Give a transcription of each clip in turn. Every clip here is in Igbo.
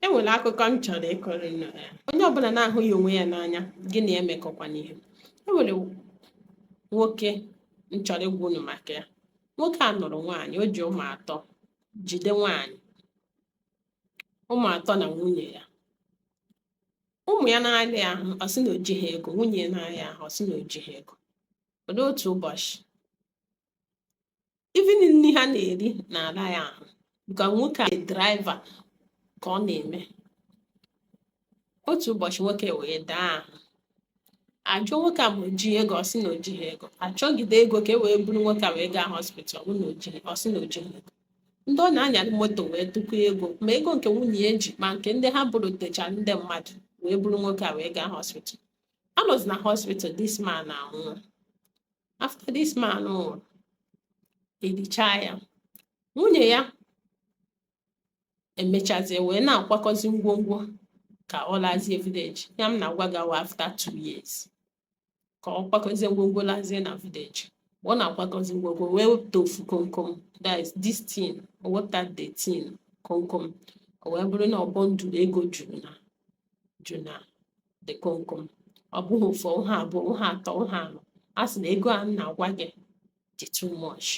e nwere akụkọ m chọrọ ịkọrọ unu ya onye ọbụla na-ahụghị onwe ya n'anya gị na ya emekọkwana ihe e nwere nwoke m chọrọ ịgwa unu maka ya nwoke a nụrụ nwaanyị o ji ụmụ atọ jide nwaanyị ụmụ atọ na nwunye ya ụmụ ya na-arịa ahụ ọ sị na o jighị ego nwunye ya na-arịa ahụ ọ sị na o jighị ego o lue otu ụbọchị even nri ha na-eri na-ara ya ahụ because nwoke a draiva ka ọ na-eme otu ụbọchị nwoke wee daa ahụ a jụọ nwoke a ma o ji ego ọ sị na o jighị ego a chọgide ego ka e wee buru nwoke a wee gaa hospital ọ sị na o jighị ego ndị ọ na-anyara moto wee tụkọ ego ma ego nke nwunye ya ji ma nke ndị ha bụrụ techa ndị mmadụ wee buru nwoke a wee gaa hospital a nọzi na hospital this man anwụọ after this man nwụrụ e lichaa ya nwunye ya emechazie wee na-akwakọzi ngwongwo ka ọ lazie vileji ya m na-agwa gị a wụ after two years ka ọ kwakọzie ngwongwo lazie na vileji ọ na-akwakọzi ngwongwo wee wepụta ofu komkom that is this thing o wepụta the thing komkom o wee bụrụ na ọ bundle ego juru na ju na the komkom ọ bụghị ofu ọ bụghị abụọ ọ bụghị atọ ọ bụghị anọ a sị na ego a na-agwa gị dị too much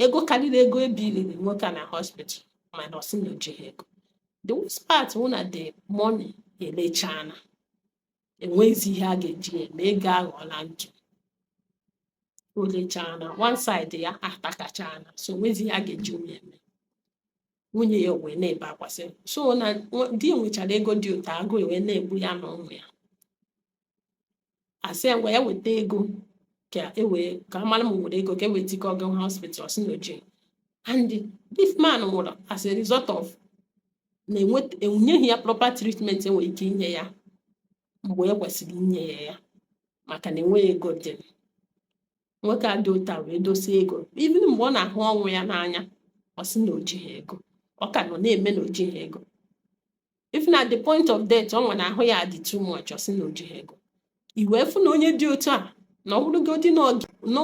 ego karịrị ego e billiri nwoke a na hospital mana ọ sị na o jighị ego the worst part wụ na the money elechana enweghịzi ihe a ga-eji eme ego aghọọla ntụ o lechana one side ya atakachana so enwezi ihe a ga-eji eme nwunye ya wee na-ebe akwa sị so na di ya nwechara ego dị otu a agụụ wee na-egbu ya na ụmụ ya a sị ya ngwa ya weta ego ka a mara ma e nwere ego ka e wee tụkọọ gawa hospital ọ sị na o jighị and this man nwụrụ as a result of na enyeghị ya proper treatment e nwere ike inye ya mgbe e kwesịrị inye ya ya maka na enweghị ego dị nwoke a dị otu a wee dosie ego even mgbe ọ na-ahụ ọnwụ ya n'anya ọ sị na o jighị ego ọ ka nọ na-eme na o jighị ego even at the point of death ọ nwere ahụ ya dị too much ọ sị na o jighị ego i wee fụ na onye dị otu a na ọ bụrụgodị na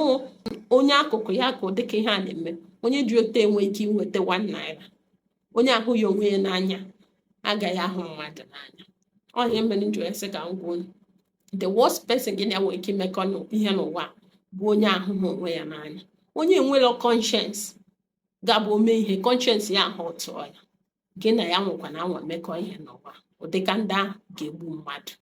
onye akụkụ ya ka ụdịka ihe a na-eme onye dị otu enwe ike inweta one naira onye ahụghị onwe ya n'anya agaghị ahụ mmadụ n'anya ọ ihe mere m ji wee sị ka m gwa unu the worst person gị na ya nwere ike imekọ ihe n'ụwa bụ onye ahụghị onwe ya n'anya onye enwerọ conscience ga-abụ o mee ihe conscience ya ahụ tụọ ya gị na ya anwakwana anwa mekọ ihe n'ụwa ụdịka ndị ahụ ga-egbu mmadụ